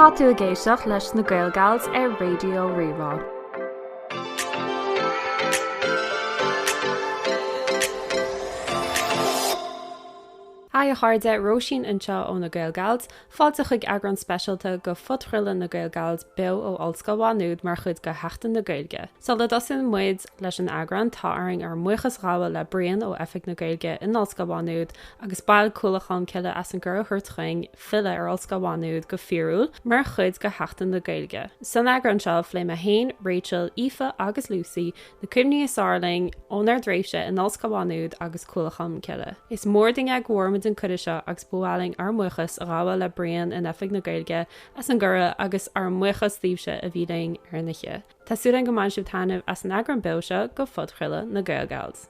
Tá tú ag éisteacht leis na GaelGals ar Raidió Rí-Rá. Hi a chairde, Róisín anseo ó na Gaelgals. Fáilte chuig eagrán speisialta de phodchraoladh na GaelGals beo ó Ollscoil Mhá Nuad mar chuid de Sheachtain na Gaeilge. Sula dtosaíonn muid leis an eagrán, tá orainn ár mbuíochas a ghabháil le Brian ó Oifig na Gaeilge in Ollscoil Mhá Nuad agus baill Chuallacht Cholm Cille as an gcuireadh a thabhairt chugainn filleadh ar Ollscoil Mhá Nuad go fíorúil mar chuid de Sheachtain na Gaeilge. San eagrán seo, phléigh mé féin, Rachel, Aoife agus Lucy Na cuimhní is fearr linn ónár dtréimhse in Ollscoil Mhá Nuad agus Cuallacht Cholm Cille. Is mór dúinn é go bhfuair muid an cuireadh seo agus ba mhaith linn ár mbuíochas a ghabháil le Brian in Oifig na Gaeilge as an gcuireadh agus ár mbuíochas daoibhse a bhí linn ar an oíche. Tá súil againn go mbainfidh sibh taitneamh as an eagrán beo seo de phodchraoladh na Gaelgals.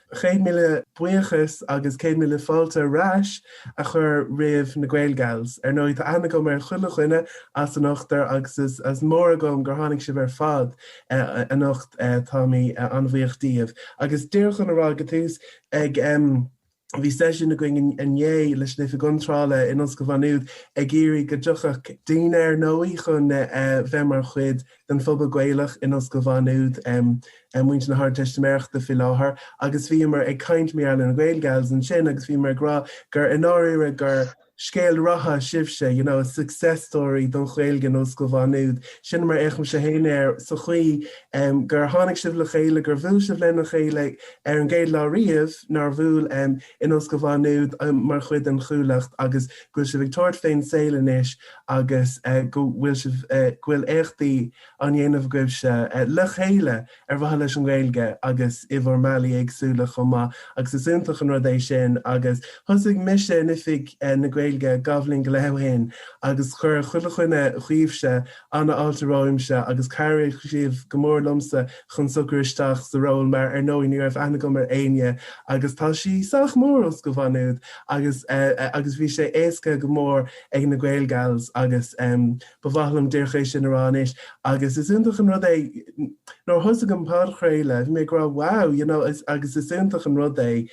Céad míle buíochas agus céad míle fáilte ar ais a chur roimh na Gaelgals. Ar ndóigh, tá aithne agam ar chuile dhuine as an ochtar agus is mór agam gur tháinig sibh ar fad anocht, tá mé an-bhuíoch díbh. Agus díreach chun a rá ag an tús, bhí seisiún againn inné leis an Oifig Iontrála in Ollscoil Mhá Nuad ag iarraidh go dtiocfadh daoine, ar ndóigh, chun bheith mar chuid den phobal Gaelach in Ollscoil Mhá Nuad, muintir na hArdteistiméireachta faoi láthair, agus bhíomar ag caint, mar gheall ar na Gaelgals, ansin agus bhíomar ag rá gur, i ndáiríre, gur scéal ratha sibhse, you know, success story don Ghaeilge in Ollscoil Mhá Nuad. Sin mar a fhéachaimse féin air, sa chaoi gur tháinig sibh le chéile, gur bhuail sibh lena chéile ar an gcéad lá riamh, nár bhuail? in Ollscoil Mhá Nuad mar chuid den Chuallacht agus go bhfuil sibh ag tabhairt fén saol anois agus go bhfuil sibh go bhfuil éachtaí á ndéanamh agaibhse le chéile ar mhaithe leis an nGaeilge agus i bhur mbealaí éagsúla chomh maith agus is iontach an rud é sin agus thosaigh mise in Oifig na Gaeilge dhá bhliain go leith ó shin agus chuir chuile dhuine dhaoibhse ana-fháilte romhamsa, agus chabhraigh sibh go mór liomsa chun socrú isteach sa ról, mar ar ndóigh ní raibh aithne agam ar éinne, agus tá sí sách mór Ollscoil Mhá Nuad, agus agus bhí sé éasca go mór ag na Gaelgals, agus ba mhaith liom díreach é sin a rá anois, agus is iontach an rud é, nuair a thosaigh an podchraoladh, bhí mé ag rá wow, you know, agus is iontach an rud é,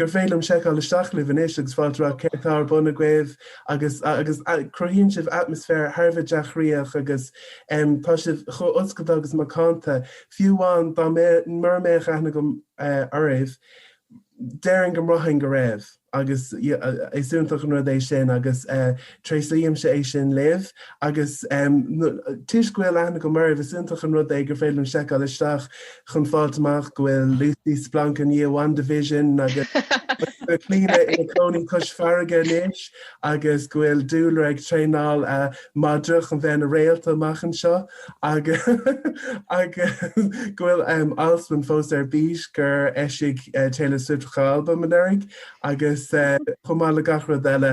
gur féidir liom seiceáil isteach libh anois agus fáil amach céard tá ar bun agaibh agus cruthaíonn sibh atmaisféar thar a bheith dea-chroíoch agus tá sibh chomh oscailte agus macánta, fiú amháin dá mura mbeadh aithne agam oraibh, déarfainn go mbraithfinn go raibh agus is iontach an rud é sin agus Tréaslaímse é sin libh. Agus toisc go bhfuil aithne agam oraibh, is iontach an rud é gur féidir liom seiceáil isteach chun fáilt amach go bhfuil Lucy splanctha i ndiaidh WandaVision agus go bhfuil Clíona ina cónaí cois farraige anois agus go bhfuil Dúlra ag traenáil a madra chun bheith ina réalta amach anseo agus go bhfuil Alswyn fós ar bís gur eisigh Taylor Swift dhá albam anuraidh agus chomh maith le gach rud eile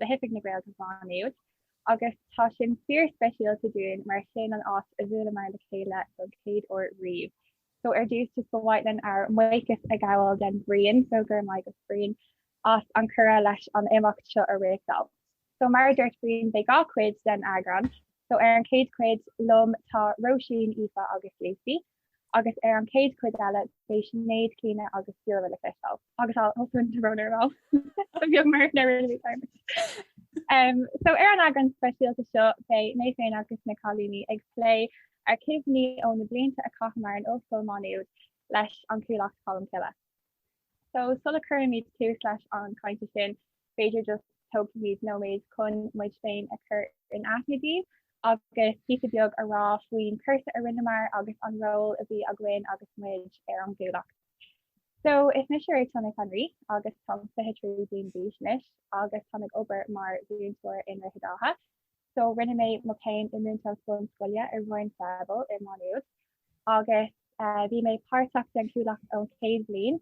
le hOifig na Gaeilge Mhá Nuad agus tá sin fíorspeisialta dúinn mar is sin an áit a bhuaileamar le chéile don chéad uair riamh. So ar dtús, just ba mhaith linn ár mbuíochas a ghabháil den Brian, so go raibh maith agat Brian, as an cuireadh leis an imeacht seo a réachtáil. So mar a dúirt Brian, beidh dhá chuid den eagrán, so ar an chéad chuid liom tá Róisín, Aoife agus Lucy. agus ar an chéad chuid eile beidh Sinéad, Clíona agus Dúlra le feiceáil. agus Alswyn romhainn ar ball beag mar na rinne Diarmaid. So ar an eagrán speisialta seo beidh mé féin agus na cailíní ag plé ár cuimhní ó na blianta a chaitheamar in Ollscoil Má Nuad leis an Chuallacht Cholmcille. So sula cuirimid tús leis an chainte sin, b'fhéidir just tógfaimid nóiméad chun muid féin a chur in aithne daoibh agus píosa beag a rá faoin chúrsa a rinneamar agus an ról a bhí againn agus muid ar an gCuallacht. So is mise Rachel Nic Anraí agus táim 23 bliain d'aois anois agus táim ag obair mar mhúinteoir i nDroichead Átha so rinne mé mo chéim i múinteoireacht bunscoile i Roinn Froebel i Má Nuad agus bhí mé páirteach den Chuallacht ón chéad bhliain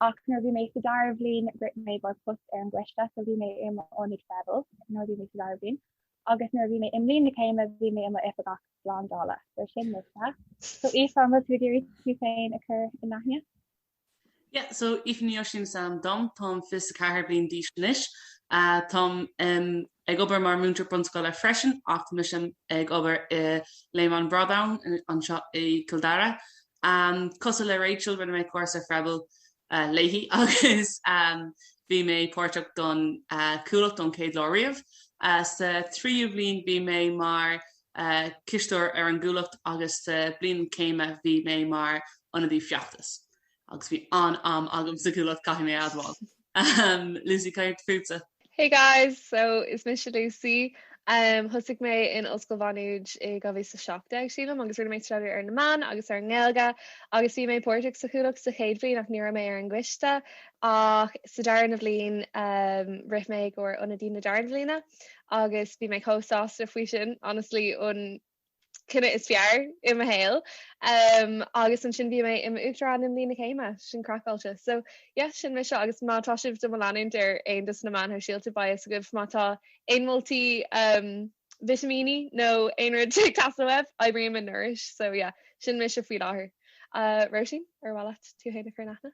ach nuair bhí mé sa dara bhliain rith mé i gcomhair post ar an gcoiste so bhí mé i m'ionadaí Froebel nuair bhí mé sa dara bhliain agus nuair bhí mé i mbliain na céime bhí mé i m'oifigeach brandála so sin mise. So Aoife an bhfuil tú ag iarraidh tú féin a chur in aithne? Yeah so Aoife Ní Oisín is ainm dom, táim 24 bliain d'aois anois. Táim ag obair mar múinteoir bunscoile freisin ach tá mise ag obair i Léim an Bhradáin anseo i gCill Dara. Cosúil le Rachel rinne mé cúrsa Froebel léi agus bhí mé páirteach don Chuallacht ón chéad lá riamh. Sa tríú bhliain bhí mé mar a chisteoir ar an gcuallacht agus sa bhliain céime bhí mé mar ionadaí feachtas agus bhí an-am agam sa gcuallacht caithfidh mé a admháil. Lucy, cad é fútsa? Hey guys! So, is mise Lucy. Thosaigh mé in Ollscoil Mhá Nuad i 2017, sílim, agus rinne mé staidéar ar na meáin agus ar an nGaeilge agus bhí mé páirteach sa chuallacht sa chéad bhliain ach ní raibh mé ar an gcoiste ach sa darna bliain rith mé i gcomhair ionadaí na darna bliana. agus bhí mé chomh sásta faoi sin, honestly, an cinneadh is fearr i mo shaol. Agus ansin bhí mé i m'Uachtarán i mBliain na Céime, sin craiceáilte. So, yeah, sin mise agus má tá sibh do mo leanúint ar aon de sna meáin shóisialta, beidh a fhios agaibh má tá aon mholtaí vitimín nó aon rud ag teastáil uaibh, oibrím i Nourish. So, yeah, sin mise faoi láthair. Róisín, ar mhaith leat tú féin a chur in aithne?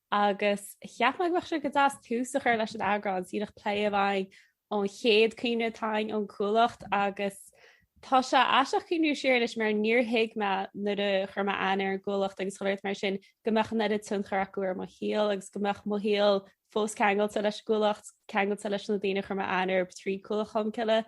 agus cheap mé go mbeadh sé go deas tús a chur leis an eagrán seo ag plé, b'fhéidir, an chéad chuimhne atá againn ón gCuallacht agus tá sé aisteach cuimhniú siar anois mar níor thuig mé nuair a chuir mé aithne ar an gCuallacht agus chuile shórt mar sin go mbeadh an oiread tionchair acu ar mo shaol agus go mbeadh mo shaol fós ceangailte leis an gCuallacht, ceangailte leis na daoine a chuir mé aithne orthu trí Chuallacht Cholmcille.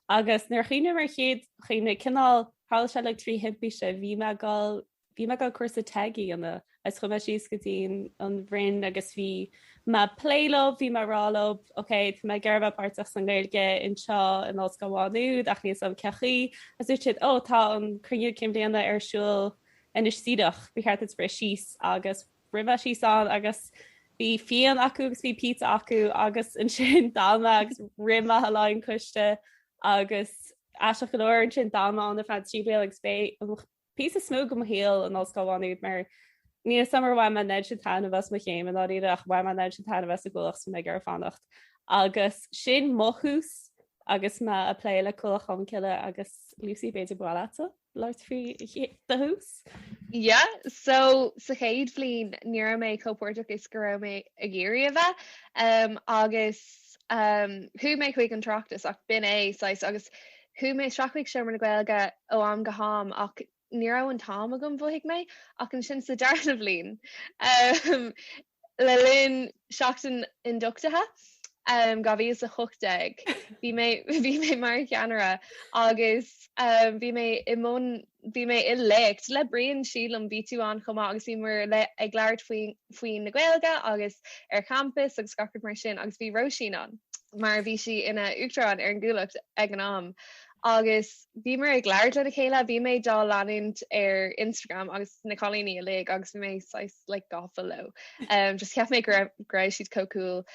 Agus nuair a chuimhním ar an gcéad chuimhne, cineál, tharla sé like trí thimpiste, bhí mé ag gol Bhí mé ag an gcúrsa TEG i Carna agus chuaigh mé síos go dtí an Rinn agus bhí mé ag plé leo, bhí mé ag rá leo ok tá mé ag iarraidh bheith páirteach san nGaeilge anseo in Ollscoil Mhá Nuad ach níl 'fhios a'm cén chaoi agus dúirt siad ó tá an cruinniú cinn bhliana ar siúl anois díreach, ba cheart duit rith síos agus rith mé síos ann agus bhí fíon acu agus bhí pizza acu agus ansin d'fhan mé agus rith mé le haghaidh an coiste agus aisteach go leor ansin d'fhan mé ann ar feadh trí bliana agus b'é píosa is mó de mo shaol in Ollscoil Mhá Nuad mar níl a fhios a'm ar bhain mé an méid sin taitneamh as mo chéim i ndáiríre ach bhain mé an méid sin taitneamh as an gCuallacht is go raibh mé ag iarraidh fanacht agus sin mo thús agus mé a' plé le Cuallacht Cholmcille agus Lucy b'fhéidir ba mhaith leatsa labhairt faoi do thús? Yeah, so sa chéad bhliain ní raibh mé chomh páirteach is go raibh mé ag iarraidh a bheith agus chuaigh mé chuig an tráchtas ach b'in é saghas agus Chuaigh mé isteach chuig seomra na Gaeilge ó am go ham ach ní raibh an t-am agam, mhothaigh mé, ach ansin sa darna bliain, le linn Seachtain Ionduchtaithe 2018, bhí mé, bhí mé mar cheannaire agus bhí mé i mbun Bhí mé i léacht le Brian, sílim, bhí tú ann chomh maith agus bhíomar like ag labhairt faoin nGaeilge agus ar champas agus gach rud mar sin agus bhí Róisín ann mar bhí sí ina Uachtarán ar an gCuallacht ag an am agus bhíomar ag labhairt lena chéile. Bhí mé dá leanúint ar Instagram agus na cailíní uilig agus bhí mé saghas like gafa leo just cheap mé go raibh siad chomh cool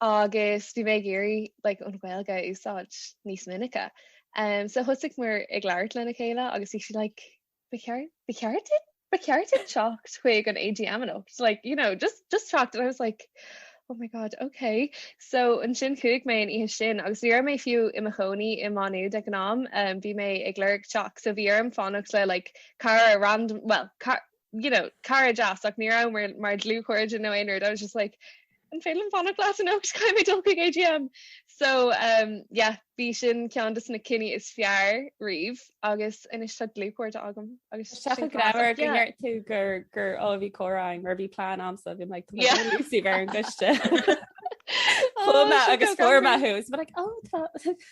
agus bhí mé ag iarraidh like an Ghaeilge a úsáid níos minice. Um, so thosaigh muir ag labhairt lena chéile agus bhí sí like, ba cheart, ba cheart duit? Ba cheart duit teacht chuig an AGM anocht, like, you know, just, just teacht. And I was like, oh my god, okay. So ansin chuaigh mé an oíche sin agus ní raibh mé fiú i mo chónaí i Má Nuad ag an am, um, bhí mé ag lorg teach, so bhí orm fanacht le like cara random, well, car, you know, cara deas ach ní raibh muir mar dlúthchairde nó aon rud, I was just like, an féidir liom fanacht leat anocht táim ag dul chuig AGM? So um yeah, bhí sin ceann des na cinntí is fearr riamh agus anois tá dlúthchairde agam agus Seacha sin grabhar cás, go yeah. ndeir tú gur gur ó bhí córáin mar bhí plán amsa bhí like, Yeah. tá Lucy ar an gcoiste. Oh, Chuma seo agus go forma gabhar. who's but like oh tá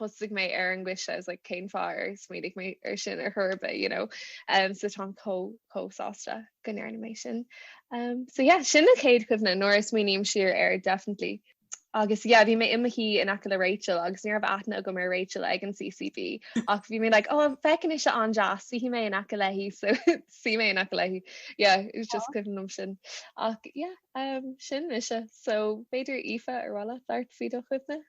thosaigh mé ar an gcoiste, I was like cén fáth ar smaoinigh mé ar sin ar chor ar bith, you know. Umm so táim chomh chomh sásta go ndearna mé sin. Umm so yeah sin an chéad chuimhne nuair a smaoiním siar air definitely. Agus yeah bhí mé i mo shuí in aice le Rachel agus ní raibh aithne agam ar Rachel ag an CCB ach bhí mé like oh féachann sise an-deas suífidh mé in aice léi so shuigh mé in aice léi. Yeah it was just cuimhin liom sin ach yeah umm sin ise so b'fhéidir Aoife ar mhaith leat labhairt faoi do chuimhne?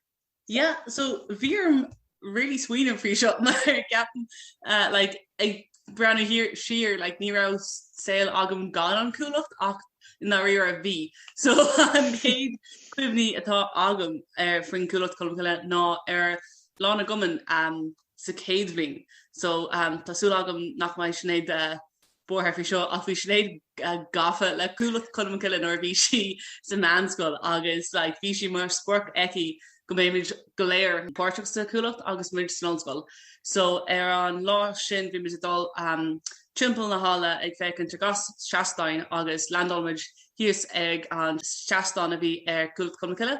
Yeah so bhí orm really smaoineamh faoi seo mar ceapaim eh, like ag breathnú thiar siar like ní raibh saol agam gan an Chuallacht ach ndáiríre bhí. So an chéad cuimhne atá agam ar eh, faoin Cuallacht Cholm Cille ná ar lá na gcumann um, sa céad bhliain. So um, tá súil agam nach mbeidh Sinéad uh, buartha faoi seo ach bhí Sinéad gafa le Cuallacht Cholm Cille nuair a bhí sí sa mheánscoil agus like bhí sí mar sprioc aici go mbeidh muid go léir páirteach sa Chuallacht agus muid san ollscoil so ar an lá sin bhí muid ag dul um timpeall na halla ag féachaint ar gach seastáin agus landáil muid thíos ag an seastán a bhí ar Chuallacht Cholm Cille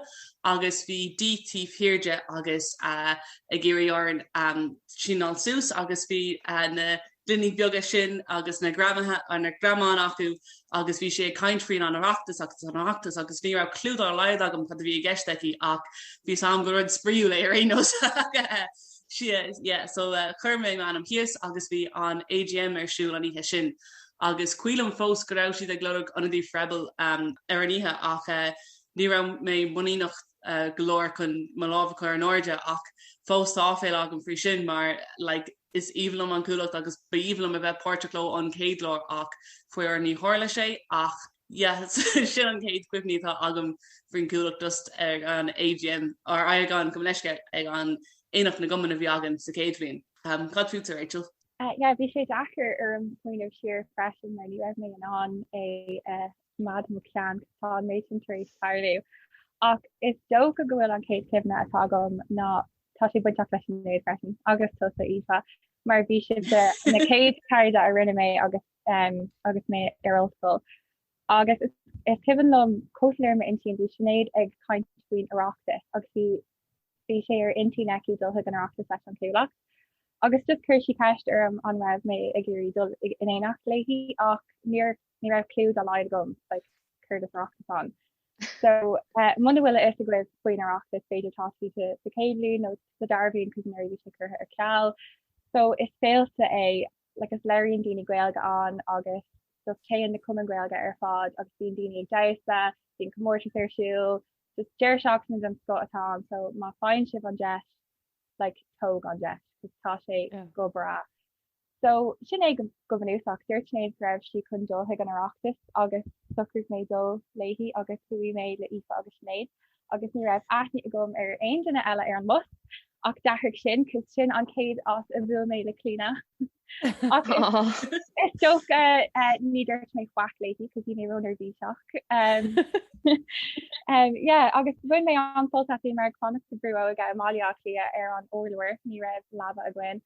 agus bhí Dee taobh thiar de agus uh ag iarraidh orainn um sínáil suas agus bhí uh na duine beaga sin agus na greamaithe ar na greamáin acu agus bhí sí ag caint faoin an Oireachtas agus an Oireachtas agus ní raibh cliú dár laghad agam cad a bhí i gceist aici ach bhí a fhios agam go rud spraíúil é ar aon nós yeah so chuir mé m'ainm síos agus bhí an AGM ar siúl an oíche sin agus ceapaim fós go raibh siad ag lorg ionadaí Freble ar an oíche ach ní raibh mé muiníneach go leor chun mo lámh a chur in airde ach fós tá áiféala agam faoi sin mar like Is aoibhinn liom an Chuallacht agus ba aoibhinn liom a bheith páirteach ón gcéad lá ach faraor níor tharla sé ach yeah sin an chéad chuimhne atá agam faoin Chuallacht just ag an AGM or ag an gabh mo leithscéal ag an aonach na gcumann a bhí againn sa chéad bhliain. Cad fútsa Rachel? Yeah bhí sé deacair orm smaoineamh siar freisin mar ní raibh mé in ann é a Maidir le mo cheann, tá an méid sin tar éis tarlú. Ach is dócha go bhfuil an chéad chuimhne atá agam ná tá sé bainteach le Sinéad freisin agus tusa Aoife mar bhí sibhse na céad cairde a rinne mé agus um, agus mé ar ollscoil. Agus is, is cuimhin liom go soiléir i m'intinn bhí Sinéad ag caint faoin Oireachtas agus bhí bhí sé ar intinn aici dul chuig an Oireachtas leis an gCuallacht. Agus just chuir sí ceist orm an raibh mé ag iarraidh dul in éineacht léi ach níor raibh clú dá laghad agam like céard is Oireachtas ann. So uh, muna bhfuil a fhios agaibh faoin Oireachtas b'fhéidir tá sibh sa sa chéad bhliain nó sa dara bhliain cos nuair a bhí sé curtha ar ceal. So is féile é like is labhraíonn daoine Gaeilge ann agus just téann na cumainn Ghaeilge ar fad agus bíonn daoine ag damhsa, bíonn comórtas ar siúl, just deireadh seachtaine den scoth atá ann so má fhaigheann sibh an deis like tóg an deis cos tá sé Yeah. go breá. So, sin é go bunúsach. Dúirt Sinéad go raibh sí chun dul chuig an Oireachtas agus shocraigh mé dul léi agus chuaigh mé le Aoife agus Sinéad agus ní raibh aithne agam ar aon duine eile ar an mbus ach d'athraigh sin cos sin an chéad áit a bhuail mé le Clíona ach is dócha ní dúirt mé faic léi cos bhí mé ró-neirbhíseach. agus bhain mé an-sult as, bhíomar ag fanacht sa brú óige i mBaile Átha Cliath ar an urlár ní raibh leaba againn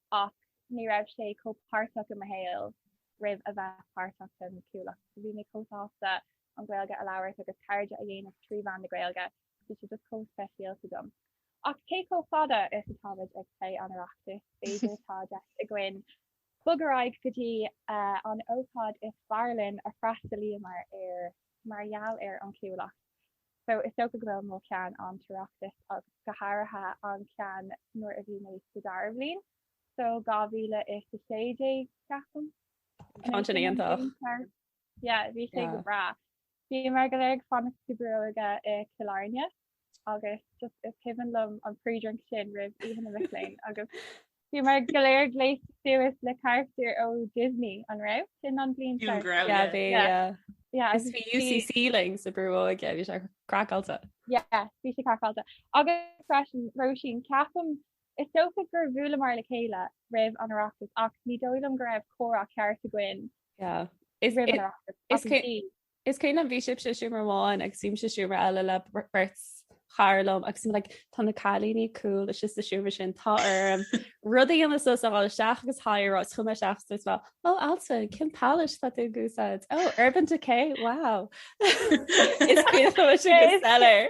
ach ní raibh sé chomh páirteach i mo shaol roimh a bheith páirteach sa Chuallacht. Bhí mé chomh sásta an Ghaeilge a labhairt agus cairde a dhéanamh trí mheán na Gaeilge, bhí sé just chomh speisialta dom. Ach cé, chomh fada is atáimid ag plé an Oireachtais, b'fhéidir tá deis againn bogadh ar aghaidh go dtí an ócáid is fearr linn a d'fhreastalaíomar air mar gheall ar an Chuallacht. So is dócha go bhfuil mo cheann an tOireachtas agus go háirithe an ceann nuair a bhí mé sa dara bhliain, so 2016 ceapaim. Bhí an ceann sin iontach. Yeah, bhí sé go breá. Bhíomar go léir ag fanacht sa brú óige i Cill Airne agus just is cuimhin liom an pre-drink sin roimh oíche na mac léinn agus Bhíomar go léir gléasta suas mar charachtair ó Disney, an raibh, sin an bhliain Fiú an seo? grá, Yeah, yeah. bhí, Yeah. yeah. Yeah, Agus agus bhí bhí- UCC linn sa brú óige, bhí sé craiceáilte. Yeah, bhí sé craiceáilte. Agus freisin, Róisín, ceapaim, is dócha gur bhuaileamar le chéile roimh an Oireachtas ach ní dóigh liom go raibh comhrá ceart againn Yeah. Is, roimh an is, Oireachtas. is ach cé- bhí. Is cuimhin liom, bhí sibhse i seomra amháin agus bhí mise i seomra eile le beirt chara liom agus bhí mé like tá na cailíní cool istigh sa seomra sin, tá orm rud a dhéanamh suas chun dul isteach agus hi a rá is chuaigh mé isteach agus dúirt mé ó Alison cén palette tá tú ag úsáid? Ó Urban Decay, wow! Is cuimhin liom an seomra go soiléir.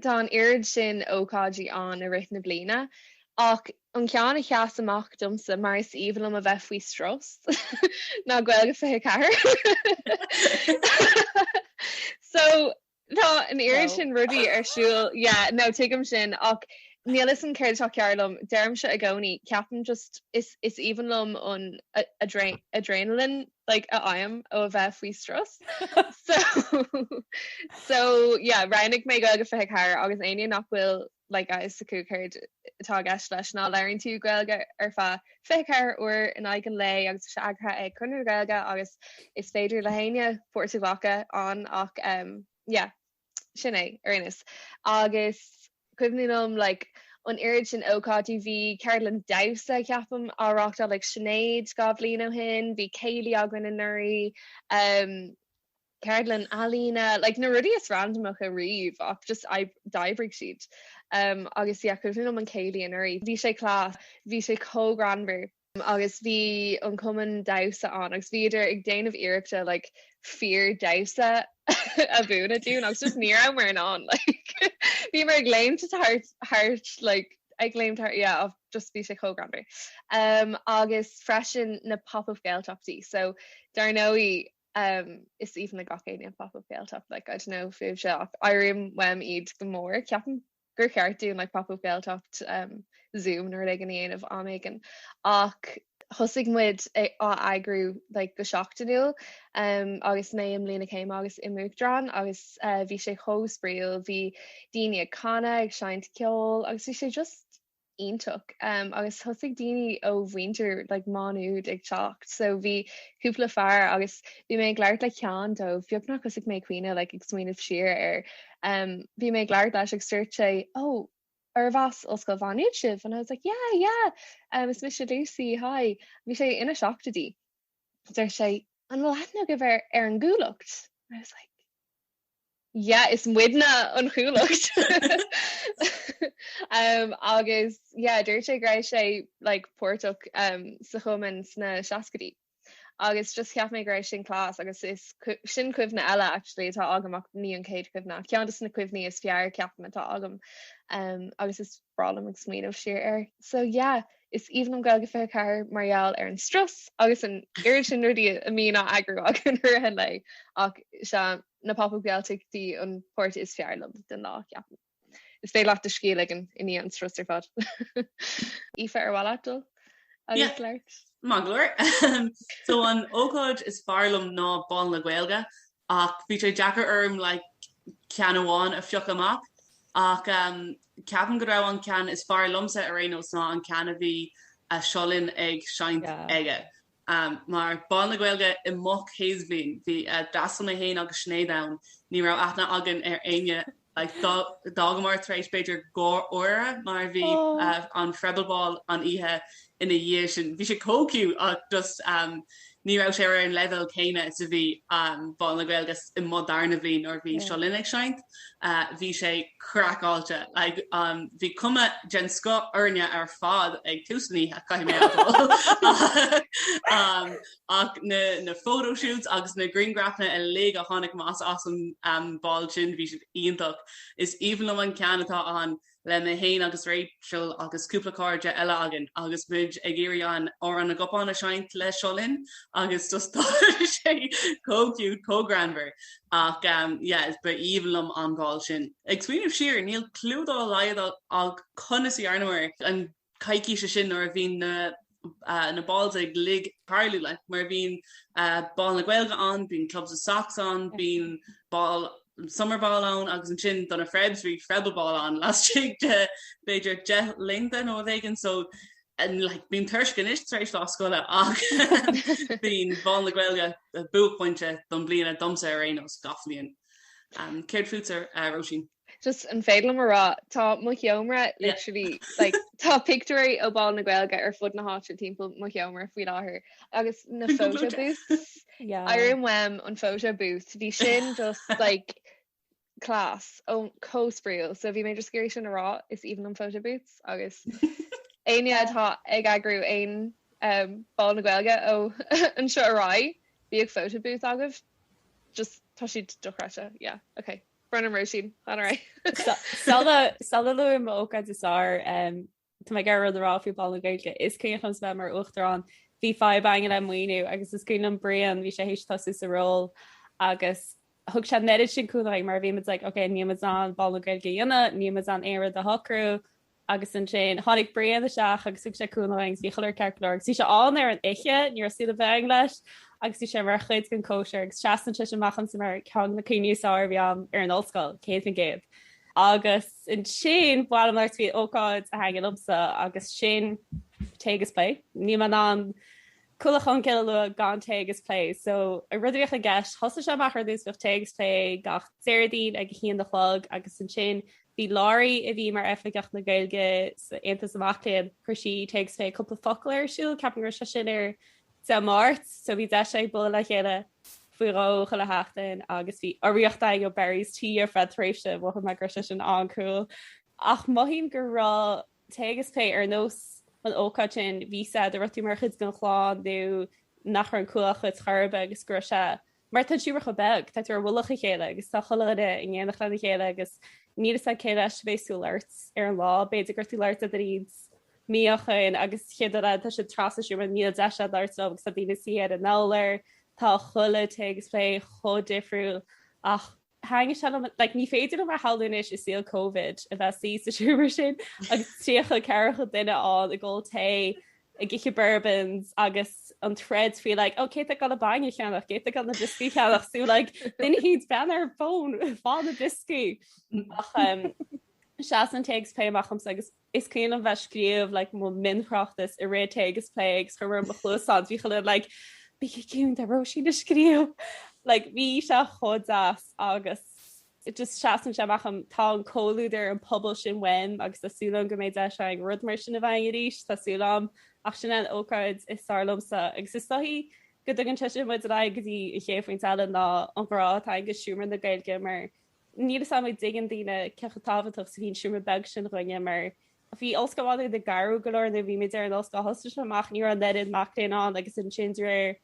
tá an oiread sin ócáidí ann i rith na bliana, ach an ceann a sheas amach domsa mar is aoibhinn liom a bheith faoi strus ná Gaeilge 24! So, tá an oiread sin rudaí ar siúl, yeah, no, tuigim sin, ach níl 'fhios a'm céard atá cearr liom, deirimse i gcónaí, ceapaim just, is aoibhinn liom an adrenaline, like a fhaighim ó bheith faoi strus so so yeah roghnaigh mé Gaeilge 24 agus éinne nach bhfuil like a fhios acu céard atá i gceist leis ná labhraíonn tú Gaeilge ar feadh 24 uair in aghaidh an lae agus é eagraithe ag Conradh na Gaeilge agus is féidir le héinne páirt a ghlacadh ann ach yeah Sin é ar aon nós. Agus cuimhním liom, like, an oiread sin ócáidí, bhí ceardlann damhsa, ceapaim, á reáchtáil ag Sinéad dhá bhliain ó shin, bhí céilí againn anuraidh, em, ceardlann ealaíne, like, na rudaí is randamacha riamh ach just d'oibrigh siad. Em, agus yeah, cuimhním liom an céilí anuraidh, bhí sé class, bhí sé chomh greannmhar. agus bhí an cumann damhsa ann agus bhíodar ag déanamh iarrachta like fíor damhsa a mhúineadh dúinn agus just ní rabhamar in ann like bhíomar ag léimt thart like ag léimt yeah just bhí sé chomh greannmhar umm agus freisin na pop up Gaeltachtaí so dar ndóigh umm is aoibhinn le gach éinne an pop up Gaeltacht like I don't know fíbhse ach airím uaim iad go mór ceapaim. gur cheart dúinn like pop up Gaeltacht zoom nó rud éigin a dhéanamh am éigin ach thosaigh muid á eagrú like go seachtainiúil agus mé i mbliain na céime agus i m'uachtarán agus bhí sé chomh spraíúil, bhí daoine ag canadh ag seinnt ceoil agus bhí sé just iontach agus thosaigh daoine ó mhuintir like Má Nuad ag teacht so bhí cúpla fear agus bhí mé ag labhairt le ceann dóibh beagnach thosaigh mé ag caoineadh like ag smaoineamh siar air um bhí mé ag labhairt leis agus dúirt sé oh arb as Ollscoil Mhá Nuad sibh and I was like yeah yeah um is mise Lucy hi bhí sé ina seachtaidí. deir sé, An bhfuil aithne agaibh ar an gCuallacht? I was like, Yeah, is muidne an Chuallacht! Agus yeah, dúirt sé go raibh sé like páirteach sa chumann sna seascaidí agus just cheap mé go raibh sin class agus is sin cuimhne eile actually atá agam ach ní an chéad chuimhne ach ceann de na cuimhní is fearr ceapaim atá agam agus is breá liom ag smaoineamh siar air. So yeah, is aoibhinn liom Gaeilge 24 mar gheall ar an strus agus an oiread sin rudaí a mbíonn á eagrú againn i rith an lae ach sea, na Pop-Up Gaeltachtaí an páirt is fearr liom den lá, ceapaim. Is féidir leat do scíth a ligean i ndiaidh an strus ar fad. Aoife, ar mhaith leat dul agus labhairt? Maith go leor. So an ócáid is fearr liom ná Bál na Gaeilge Ach bhí sé deacair orm like ceann amháin a phiocadh amach. Ach ehm ceapaim go raibh an ceann is fearr liomsa ar aon nós ná an ceann a bhí Seo Linn ag seinnt aige. Ehm mar Bál na Gaeilge i mo chéad bhliain bhí eh díreach mé féin agus Sinéad ann, ní raibh aithne againn ar éinne D'fhágamar tar éis b'fhéidir dhá uair mar a bhí an Frebel Ball an oíche ina dhiaidh sin. Bhí sé chomh cute ach just ní raibh sé ar an leibhéal céanna is a bhí Bál na Gaeilge i mo dhara bliain nuair a bhí Seo Linn ag seinnt. Bhí sé craiceáilte. Bhí cuma den scoth orainn ar fad ag tús na hoíche, caithfidh mé a admháil. Ach na photoshoots agus na grianghrafanna uilig a tháinig amach as an bál sin, bhí siad iontach. Is aoibhinn liom an ceann atá ann le mé fhéin agus Rachel agus cúpla cairde eile againn agus muid ag iarraidh an Amhrán na gCupán a sheinnt le Seo Linn agus just tá sé chomh cute, chomh greannmhar. Ach yeah, b'aoibhinn liom an bál sin. Ag smaoineamh siar, níl clue dá laghad agam conas a dhearnamar an coicís sin nuair a bhíonn na balls uilig ag tarlú le, mar bhíonn Bál na Gaeilge ann, bíonn Clubs and Socs ann, bíonn ball summer ball ann agus ansin do na Frebs bhí Frebel Ball ann laistigh de b'fhéidir deich laethanta nó rud éigin so like bím tuirseach anois tar éis lá scoile ach b'é Bál na Gaeilge buaicphointe don bliana domsa ar aon nós gach bliain. Céard fútsa a Róisín? Just an féidir liom a rá, tá mo sheomra literally, like, tá pictiúirí ó Bhál na Gaeilge ar fud na háite timpeall mo sheomra faoi láthair agus na photo booths, I remem an photo booth, bhí sin just like class, ó chomh spraíúil, so bhí mé just ag iarraidh sin a rá, is aoibhinn liom photo booths agus éinne atá ag eagrú aon Bhál na Gaeilge ó anseo ar aghaidh, bíodh photo booth agaibh, just tá siad dochreidte, yeah, ok. Brennan Róisín, lean ar aghaidh. Sula luaim m'ócáid is fearr, tá mé ag iarraidh rud a rá faoi Bhál na Gaeilge. Is cuimhin liomsa a bheith mar Uachtarán, bhí fadhb againn le maoiniú agus is cuimhin liom Brian, bhí sé th'éis tosú sa ról agus thug sé an oiread sin cúnamh dúinn mar bhí muid like, ok, níl muid in ann Bál na Gaeilge a dhéanamh, níl muid in ann aon rud a shocrú, agus ansin tháinig Brian isteach agus thug sé cúnamh dúinn agus bhí chuile rud ceart go leor agus bhí sé ann ar an oíche, ní raibh súil againn leis agus bhí sé mar chuid den chóisir agus seasann sin amach dhom ar cheann de na cuimhní is fearr a bhí agam ar an ollscoil, 100%. Agus ansin bhuel má tá faoi ócáid a thaitnigh liomsa agus sin tae agus plé. Níl mé in ann Cuallacht Cholmcille a lua gan tae agus plé so an rud a bhíodh i gceist thosaigh sé amach ar dtús bhíodh tae agus plé gach Déardaoin ag a haon a chlog agus ansin Bhí Lory, a bhí mar Oifigeach na Gaeilge san Aontas na Mac Léinn, chuir sí Tae agus Plé Cúpla Focal ar siúl, ceapaim go raibh sé sin ar Dé Máirt, so bhí deis againn bualadh le chéile faoi dhó chuile sheachtain agus bhí urraíocht againn ó Barry's Tea ar feadh tréimhse, mhothaigh mé go raibh sé sin an-cool. Ach mothaím go raibh Tae agus Plé ar nós an ócáid sin, bhí fhios a'd go raibh tú mar chuid den chlann nó nach raibh an Chuallacht chor ar bith agus go raibh sé mar tá an seomra chomh beag, tá tú ar mhullach a chéile agus tá chuile dhuine in éineacht lena chéile agus níl fhios a'd cé leis a bhéas tú a labhairt ar an lá, b'fhéidir go raibh tú labhairt idir iad, míochaine, agus chéad lá eile tá siad trasna an tseomra níl deis a'd labhairt leo agus tá daoine suí ar an urlár, tá chuile tae agus plé chomh difriúil ach. Thaitin sé liom, like, ní féidir liom a shamhlú anois i saol Covid a bheith suí sa seomra sin agus 30, 40 duine ann ag ól tae, ag ithe bourbons agus an troid faoi, like, oh, cé tá ag dul an bainne a cheannach, cé tá ag dul na brioscaí a cheannach, so, like, duine thíos bean ar an bhfón, faigh na brioscaí. Ach um, seasann Tae agus Plé amach dhomsa agus Is cuimhin liom bheith scríobh like mo mionthráchtas i rith Tae agus Plé agus chuir mé mo chluasáin bhí chuile dhuine like bígí ciúin tá Róisín ag scríobh like bhí sé chomh deas agus just seasann sé amach dhom tá an comhluadar an pobal sin uaim agus tá súil agam go mbeidh deis againn rud mar sin a bheith againn arís tá súil agam ach sin é an ócáid is fearr liomsa agus is dóichí go dtugann sé sin muid ar aghaidh go dtí an chéad phointe eile ná an ghrá atá againn do Seomra na Gaeilge mar Níl fhios agam a' dtuigeann daoine cé chomh tábhachtach 's a bhí an seomra beag sin dhuinne mar bhí ollscoil an áit ag athrú go leor nuair a bhí muid ar an ollscoil thosnaigh sé amach ní raibh an oiread mac léinn ann agus ansin de réir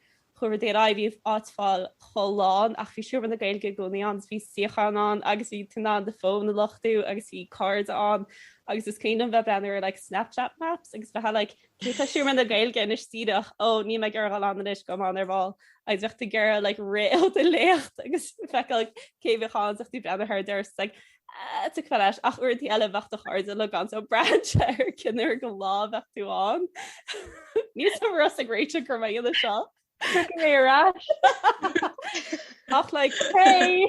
chuaigh rudaí ar aghaidh bhí an áit fáil chomh lán ach bhí seomra na Gaeilge i gcónaí ann 's bhí suíocháin ann agus bhí tú in ann do fón a luchtú agus bhí cairde ann agus is cuimhin liom bheith breathnú ar like Snapchat maps agus bheith like Cé tá i Seomra na Gaeilge anois díreach, ó, níl mé ag iarraidh dul ann anois gabhfaidh mé ann ar ball, agus bheadh tú ag iarraidh like rith ó do léacht agus feiceáil cé bheadh ann is bheadh tú breathnú air deireadh, it's like ahh, tiocfá leis, ach uaireantaí eile bheadh do chairde uilig ann so braitheann sé ar cén uair den lá a bheadh tú ann. Níl tú fhurasta ag réiteach gur mé ina seo. Tiocfaidh mé ar ais. Ach like, hey!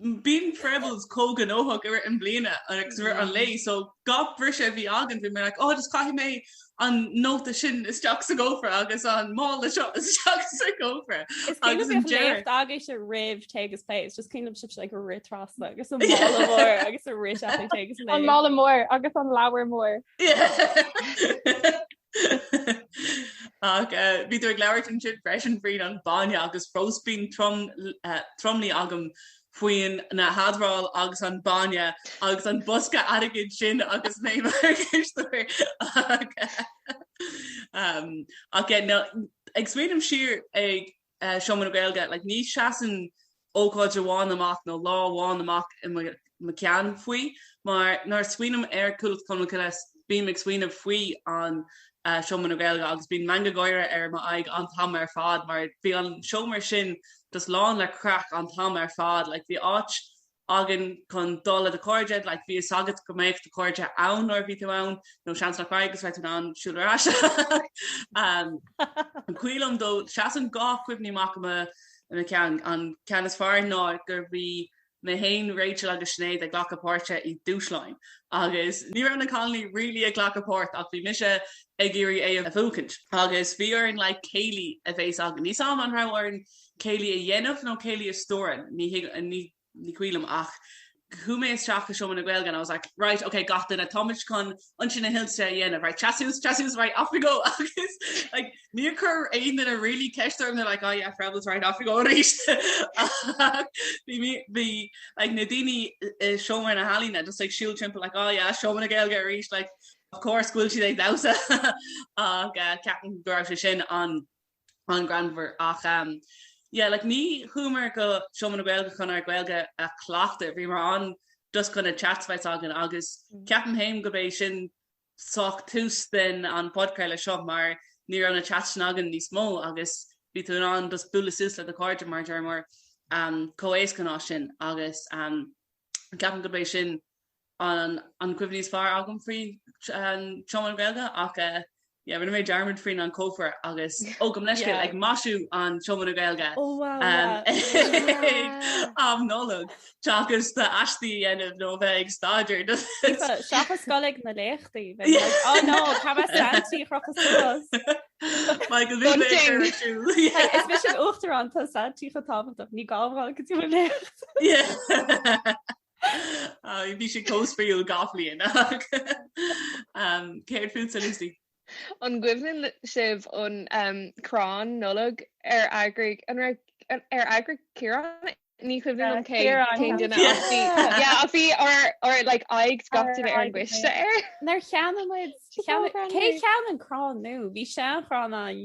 Bíonn Froebels chomh gnóthach i rith an bliana agus i rith an lae so gach briseadh a bhí againn bhí mé like oh just caithfidh mé an nóta sin isteach sa gcófra agus an mála seo isteach sa gcófra agus an dearg aige se rith Tae agus Plé just cuimhnímse like ag rith trasna agus an mála mór agus ag rith agus an mála mór agus an leabhar mór. Ach bhí tú ag labhairt ansin freisin faoin an bainne agus fós bíonn tromluí agam faoin na hadmháil agus an bainne agus an bosca airgid sin agus mé mar an cisteoir ach ag smaoineamh siar ag Seomra na Gaeilge, like, ní seasann ócáid amháin amach nó lá amháin amach i mo cheann faoi, mar nuair a smaoiním ar Cuallacht Cholmcille, bím ag smaoineamh faoi an Seomra na Gaeilge agus bíonn meangadh gáire ar m'aghaidh an t-am ar fad mar bhí an seomra sin just lán le craic an t-am ar fad, like, bhí áit againn chun dul le do chairde, like bhí a fhios agat go mbeadh do chairde ann nuair a bhí tú ann, nó seans nach raibh agus bheadh tú in ann siúl ar ais. An cuimhin liom dó, seasann dhá chuimhní amach i mo cheann. An ceann is fearr ná gur bhí mé fhéin, Rachel agus Sinéad ag glacadh páirte i dúshláin, agus ní raibh na cailíní really ag glacadh páirt ach bhí mise ag iarraidh é a bhuachaint, agus bhí orainn like céilí a bheith againn. Níl a fhios agam an raibh orainn céilí a dhéanamh nó céilí a stiúradh, ní cuimhin liom ach chuaigh mé isteach i seomra na Gaeilge and I was like, right, ok, gach duine, táimid chun Ionsaí na hInse a dhéanamh, right, seas suas, seas suas, right, off we go agus like níor chuir aon duine really ceist orm, they were like, oh yeah, Froebel's right, off we go arís ach bhí mí, bhí like na daoine i seomra na healaíne just ag siúl timpeall like, oh yeah, seomra na Gaeilge arís like of course go bhfuil siad ag damhsa ach eh, ceapaim go raibh sé sin an an greannmhar ach yeah like ní chuamar go Seomra na Gaeilge chun ár Gaeilge a chleachtadh, bhíomar ann just chun na chats a bheith againn agus ceapaim fhéin gurb é sin saghas tús den an podchraoladh seo mar ní raibh na chats sin againn níos mó agus bhí tú in ann just bualadh suas le do chairde mar a dúramar chomh héasca ansin agus ceapaim gurb é sin an cuimhní is fearr agam faoi Seomra na Gaeilge ach yeah rinne mé dearmad faoin an cófra agus ó gabh mo leithscéal ag maisiú an Seomra na Gaeilge um Nollaig seachas do aistí a dhéanamh nó bheith ag staidéar do Seachas gabháil chuig na léachtaí oh no caithfidh mé Santy a chrochadh Michael Is mise an t-uachtarán tá Santy chomh tábhachtach ní gá go dtí léacht. Bhí sé chomh spraíúil gach bliain. Céard fútsa Lucy. An gcuimhneann sibh an crann Nollag ar eagraigh an raibh ar eagraigh Ciarán? Ní cuimhin liom cén duine ach bhí ach bhí ár like aghaidh gach duine ar an gcoiste air. Nár cheannaigh muid cé a cheannaigh an crann nó bhí seanchrann ann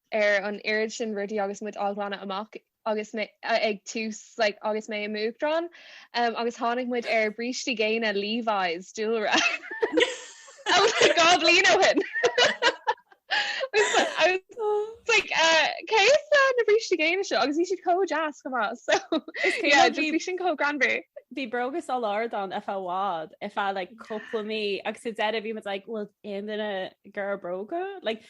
ar an oiread sin rudaí agus muid á ghlanadh amach agus mé ag tús like agus mé i m'uachtarán um, agus tháinig muid ar brístí géine Levi's dúlra oh my god bliain ó shin like uh, cé leis na brístí géine seo agus bhí siad chomh deas chomh maith so yeah, just bhí sin chomh greannmhar bhí bróga sa lár ann ar feadh like cúpla mí agus i ndeireadh bhí mé like bhfuil aon duine gur bróga like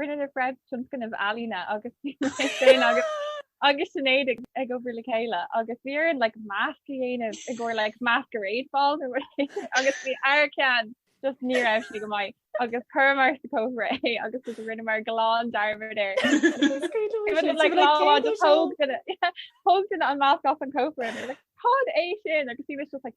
Rinne na Fred tionscnamh ealaíne agus bhí mé féin agus agus Sinéad ag, ag obair le chéile agus bhí orainn like masc a dhéanamh i gcomhair like masquerade ball nó rud éigin agus bhí ár gceann just ní raibh sé go maith agus chuireamar sa cófra é agus go rinneamar glan dearmad air. It was like lá amháin just thóg duine- yeah, thóg duine an masc as an cófra and they were like, Cad é sin? agus bhí mise just like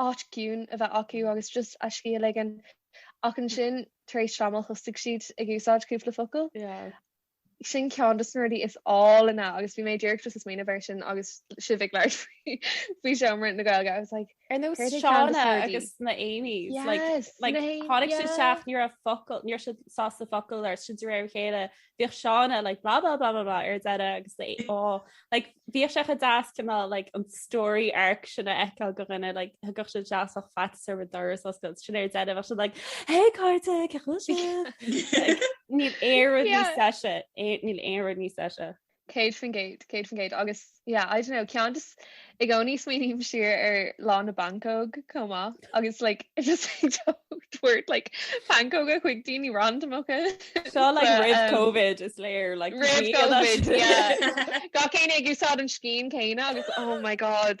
áit ciúin a bheith acu agus just a scíth a ligean ach ansin tar éis tamaill thosaigh siad ag úsáid cúpla focal. Sin ceann des na rudaí is áilne agus bhí mé ag díreach just ag smaoineamh air sin agus sibh ag labhairt faoi seomra na Gaeilge. I was like Ar nós Céard é ceann Seána des na rudaí? agus na Amy's like Yes, like na- tháinig siad isteach ní raibh focal ní raibh siad sásta focal a rá is de réir a chéile bhíodh Seána like blah blah blah blah blah ar deireadh agus yeah like bhíodh sé chomh deas cineál like an story arc sin a fheiceáil do dhuine like thagadh siad isteach faitíos orthu an doras a oscailt ansin ar deireadh bheadh siad like hey a chairde cén chaoi a bhfuil sibh? Like, Níl aon rud níos deise é- níl aon rud níos deise. Céad faoin gcéad, céad faoin gcéad agus yeah, I don't know, ceann just i gcónaí smaoiním siar ar Lá na bPancóg chomh maith agus like it just like tabhairt like pancóga chuig daoine randamacha. Seo like So, roimh um, COVID is léir like Roimh COVID, yeah. Gach éinne ag úsáid an scian céanna agus oh my god,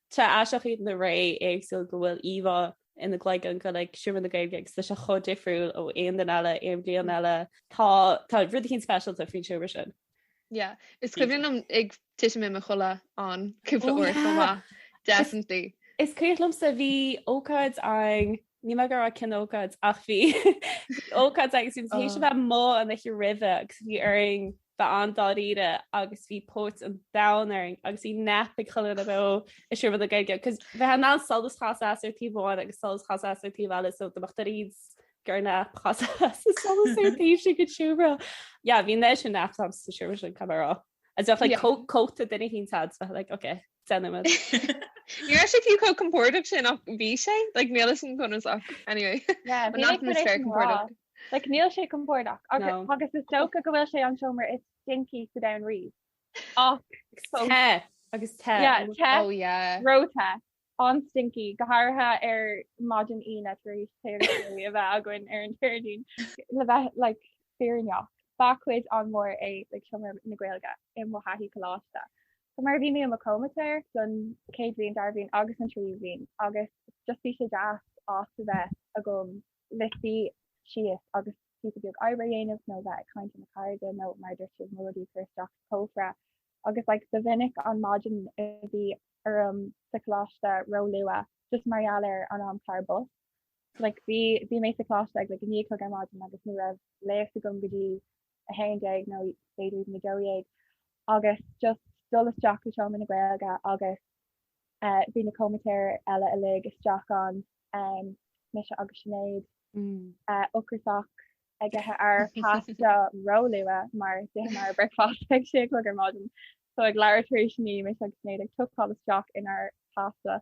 Tá sé aisteach iad na ré éagsúil go bhfuil íomhá ina gcloigeann de like seomra na Gaeilge agus tá sé chomh difriúil ó aon duine eile, aon bhliain eile. Tá, tá rud éicint speisialta faoin seomra sin. Yeah, is cuimhin liom ag titim i mo chodladh ann cúpla uair chomh maith, definitely. Is cuimhin liomsa bhí ócáid ann, ní mé go raibh cén ócáid ach bhí ócáid agus bhí muid tar éis a bheith amuigh an oíche roimhe agus bhí orainn Bheith an-dáiríre agus bhí póit an domhain orainn agus bhí nap ag chuile dhuine beo i seomra na Gaeilge cos bheifeá in ann solas a chasadh as ar taobh amháin agus solas a chasadh as ar taobh eile so dá mbeadh tú ag iarraidh dul ar nap chasfá as an solas ar an taobh sin den seomra. Yeah bhí an oiread sin naps agam sa seomra sin caithfidh mé a rá. Is bheadh like cóta duine éicint agat is bheadh like ok. Deich nóiméad. Ní raibh sé fiú chomh compordach sin ach bhí sé. Like níl a fhios agam conas ach anyway. Yeah, But bhí not in the tar éis spare an lá. compordach. Like níl sé compordach ach No. agus is dócha go bhfuil sé an seomra is stinky sa domhan riamh. Ach fós. Te agus te. Yeah, te. Oh yeah. Ró-te. An-stinky, go háirithe ar maidin Aoine tar éis tae agus ceol a bheith againn ar an Déardaoin. Le bheith like fírinneach, ba chuid an-mhór é like seomra na Gaeilge i mo thaithí coláiste. So mar a bhí mé i mo chomaitéir don chéad bhliain, dara bhliain agus an tríú bhliain agus just bhí sé deas áit a bheith agam le suí síos agus píosa beag oibre a dhéanamh nó a bheith ag caint le mo chairde nó mar a dúirt siad mo rudaí a chur isteach sa chófra agus like ba mhinic an maidin a bhí orm sa choláiste róluath just mar gheall ar an amchlár bus like bhí bhí mé sa choláiste ag like a naoi a chlog ar maidin agus ní raibh léacht agam go dtí 11 nó b'fhéidir 12 agus just dul isteach sa seomra na Gaeilge agus bhí na comaitéir eile uilig isteach ann, mise agus Sinéad, ocrasach ag ithe ár pasta róluath mar d'itheamar breakfast ag 6 a chlog ar maidin. So ag leathuair tar éis 9 mise agus Sinéad ag tuckáil isteach inár pasta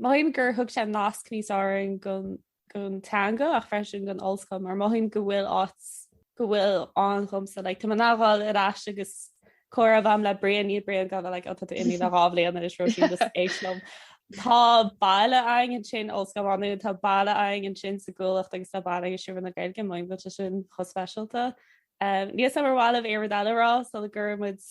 Mothaím gur thug sé nasc níos fearr dhúinn don teanga ach freisin don ollscoil mar mothaím go bhfuil áit go bhfuil ann dhomsa. Like tá mé in ann a ghabháil ar ais agus comhrá a bheith agam le Brian níl Brian ag gabháil like ó tá tú imithe le dhá bhliain anois Róisín just éist liom. Tá baile againn ansin Ollscoil Mhá Nuad tá baile againn ansin sa gCuallacht agus tá baile againn i Seomra na Gaeilge mothaím go bhfuil sé sin chomh speisialta. Um, níl a fhios agam ar mhaith libh aon rud eile a rá sula gcuirfidh muid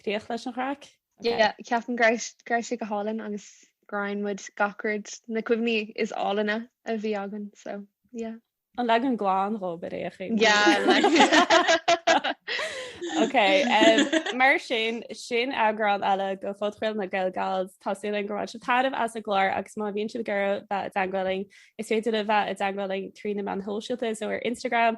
Críoch leis an gcraic. Yeah, ceapaim go raibh, go raibh sé go hálainn agus go roinn muid gach rud, na cuimhní is álainne a bhí againn, so yeah. An leagan glan dhóibh ar aon chaoi. Yeah, like. Ok, mar sin, sin eagrán eile de Phodchraoladh na Gaeilge. Tá súil againn gur bhain sibh taitneamh as an gclár agus má bhíonn sibh ag iarraidh bheith i dteagmháil linn, is féidir libh bheith i dteagmháil linn trí na meáin shóisialta, so ar Instagram,